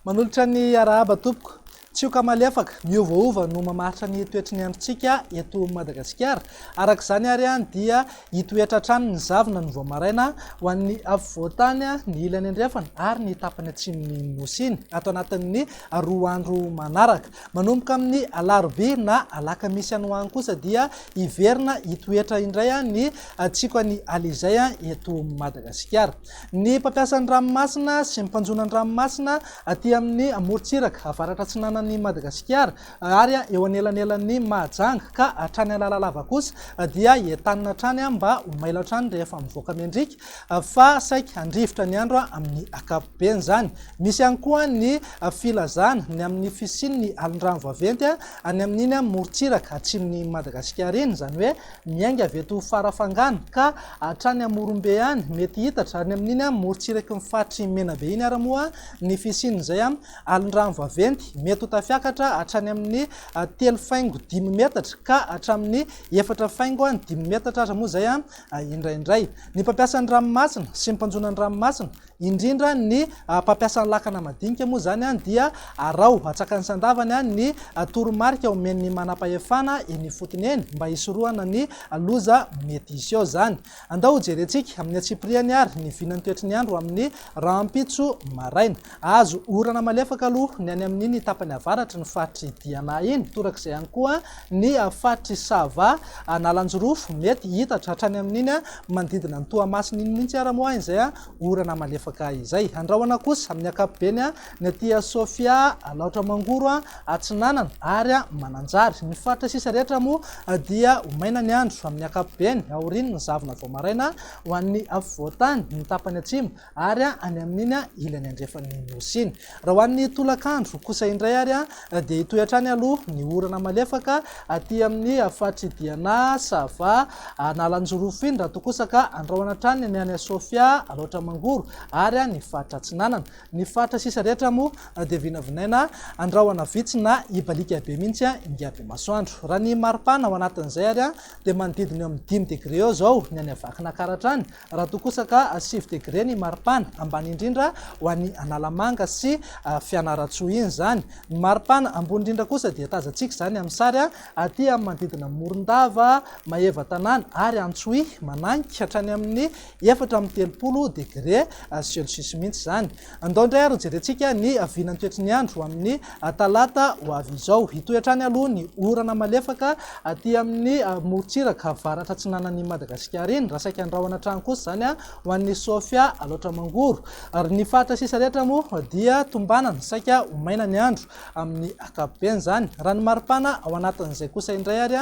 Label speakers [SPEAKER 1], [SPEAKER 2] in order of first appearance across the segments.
[SPEAKER 1] Manolotra ny arahaba tompoko. Tsioka malefaka, miovaova no mamaritra ny toetry ny androntsika eto Madagasikara. Araka izany ary dia Hitoetra hatrany ny zavona ny vao maraina ho an'ny afovoan-tany, ny ilany andrefana ary ny tapany atsimon'ny Nosy iny ato anatin'ny roa andro manaraka. Manomboka amin'ny alarobia na alakamisy any ho any kosa dia hiverina hitoetra indray ny tsiko an'i Alizay eto Madagasikara. Ny mpampiasa ny ranomasina sy ny mpanjono an-dranomasina aty amin'ny morontsiraka avaratra atsinanan'i Madagasikara Ary eo anelanelan'ny Mahajanga ka hatrany Analalava kosa dia entanina hatrany mba ho mailo hatrany rehefa mivoaka miandriaka fa saiky handrivotra ny andro amin'ny ankapobeny izany. Misy ihany koa ny filazana ny amin'ny fisian'ny alin-drano vaventy any amin'iny morontsiraka atsimon'i Madagasikara iny, izany hoe miainga avy eto Farafangana ka hatrany Morombe any, mety hiitatra any amin'iny morontsiraky ny faritry Menabe iny ary moa ny fisian'izay Alin-drano vaventy mety ho tafiakatra hatrany amin'ny telo faingo dimy metatra ka hatramin'ny efatra faingo dimy metatra aza moa izay indraindray. Ny mpampiasa ny ranomasina sy ny mpanjono ny ranomasina, indrindra ny mpampiasa ny lakana madinika moa izany dia araho atsakany sandavany ny toromarika omen'ny manampahefana eny ifotony eny mba hisorohana ny loza mety hisy ao izany. Andao hojerentsika amin'ny antsipiriany àry ny vinan'ny toetry ny andro amin'ny rahampitso maraina. Hahazo orana malefaka aloha ny any amin'iny tapany avaratry ny faritr'i Diana iny, torak'izay ihany koa ny faritr'i Sava, Analanjirofo. Mety hihitatra hatrany amin'iny manodidina an'i Toamasina iny mihitsy àry moa izay orana malefaka izay. Andrahona kosa amin'ny ankapobeny Ny aty Sofia, Alaotra Mangoro Atsinanana ary Mananjary. Ny faritra sisa rehetra moa dia ho maina ny andro amin'ny ankapobeny aorian'ny zavona vao maraina ho an'ny afovoan-tany, ny tapany atsimo ary any amin'iny ilany andrefan'ny Nosy iny. Raha ho an'ny tolakandro kosa indray ary dia hitohy hatrany aloha ny orana malefaka aty amin'ny faritry Diana, Sava, Analanjirofo iny raha toa kosa ka andrahona hatrany ny any Sofia, Alaotra Mangoro ary ny faritra Atsinanana. Ny faritra sisa rehetra moa dia vinavinaina andrahona vitsy na ibaliaka be mihitsy ingahy Bemasoandro. Raha ny maripana ao anatin'izay ary dia manodidina eo amin'ny dimy degre eo izao ny any Vakinankaratra any, raha toa kosa ka sivy degre ny maripana, ambany indrindra ho an'i Analamanga sy Fianarantsoa iny izany. Ny maripana ambony indrindra kosa dia tazantsika izany amin'ny sary aty amin'ny manodidina Morondava, Maevatanàna ary Antsohihy, mananika hatrany amin'ny Efatra amby telopolo degre celsius mihitsy izany. Andao indray ary hojerentsika ny vinan'ny toetry ny andro amin'ny talata ho avy izao. Hitohy hatrany aloha ny orana malefaka aty amin'ny morontsiraka avaratra atsinanan'i Madagasikara iny, raha saika andrahona hatrany kosa izany ho an'i Sofia Alaotra Mangoro. Ary ny faritra sisa rehetra moa dia tombanana, saika ho maina ny andro amin'ny ankapobeny izany. Raha ny maripana ao anatin'izay kosa indray ary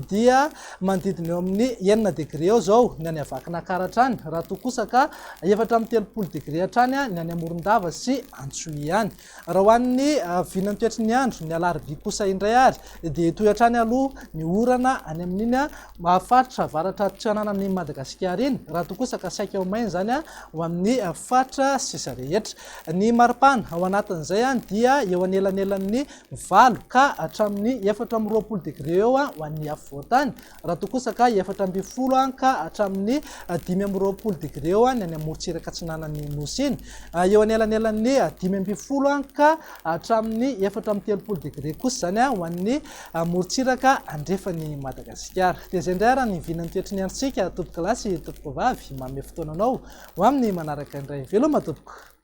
[SPEAKER 1] dia manodidina eo amin'ny enina degre eo izao ny any Vakinankaratra hatrany, raha toa kosa ka efatra amby telopolo degre hatrany ny any Morondava sy Antsohihy any. Raha ho an'ny vinan'ny toetry ny andro, ny alarobia kosa indray ary dia hitohy hatrany aloha ny orana any amin'iny faritra avaratra atsinanan'i Madagasikara iny, raha toa kosa ka saika ho maina izany ho amin'ny faritra sisa rehetra. Ny maripana ao anatin'izay dia eo anelanelan'ny valo ka hatramin'ny efatra amby roapolo degre eo ho an'ny afovoan-tany, raha toa kosa ka efatra ambin'ny folo ka hatramin'ny dimy amby roapolo degre eo ny any amorontsiraka atsinanan'ny Nosy iny. Eo anelanelan'ny dimy ambin'ny folo ka hatramin'ny efatra amby telopolo degre kosa izany ho an'ny morontsiraka andrefan'i Madagasikara. Dia izay indray ary ny vinan'ny toetry ny androntsika, tompokolahy sy tompokovavy. Manome fotoana anao ho amin'ny manaraka indray. Veloma tompoko!